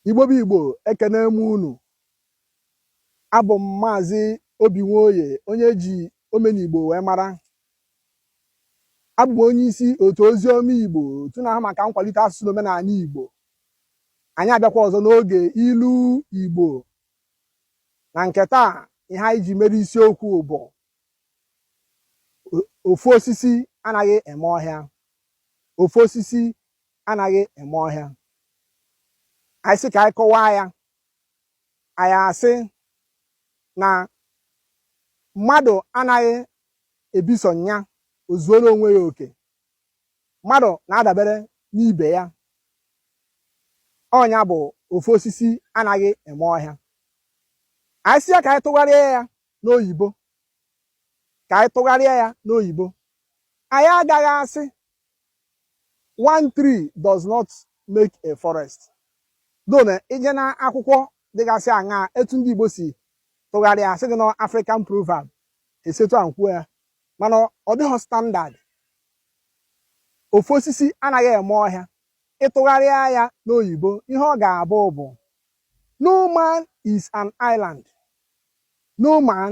Igbo bụ Igbo ekene m unu abụ m maazị Obi Nwoye onye e ji Omenigbo wee mara abụ m onye isi otu ozi ọma Igbo otu na-ahụ maka nkwalite asụsụ na omenala Igbo anyị abịakwa ọzọ n'oge ilu Igbo na nke taa ihe anyị ji mere isiokwu bụ ofu osisi anaghị eme ọhịa ofu osisi anaghị eme ọhịa anyị sị ka anyị kọwaa ya anyị asị na mmadụ anaghị ebi sọ nya o zuoro onwe ya oke mmadụ na-adabere n'ibe ya ọ nya bụ ofu osisi anaghị eme ọhịa anyị sị ya ka anyị tụgharịa ya n'oyibo ka anyị tụgharịa ya n'oyibo anyị agaghị asị one tree does not make a forest though na i je na akwụkwọ dịgasị aṅaa etu ndị Igbo si tụgharịa a sị gị na African proverb e si etu ahụ kwuo ya mana ọ dịghị standard ofu osisi anaghị eme ọhịa ị tụgharịa ya n'oyibo ihe ọ ga-abụ bụ no man is an island no man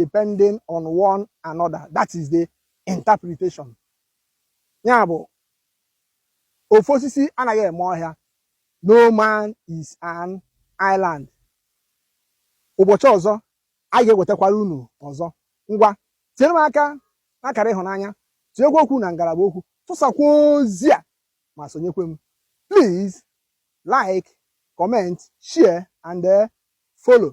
depending on one another that is the interpretation nya bụ ofu osisi anaghị eme ọhịa no man is an island ụbọchị ọzọ anyị ga-ewetakwara unu ọzọ ngwa tinyere m aka n'akara ịhụnanya tinyekwa okwu na ngalaba okwu tụsakwa ozi a ma sonyekwe m please like comment share and eh, follow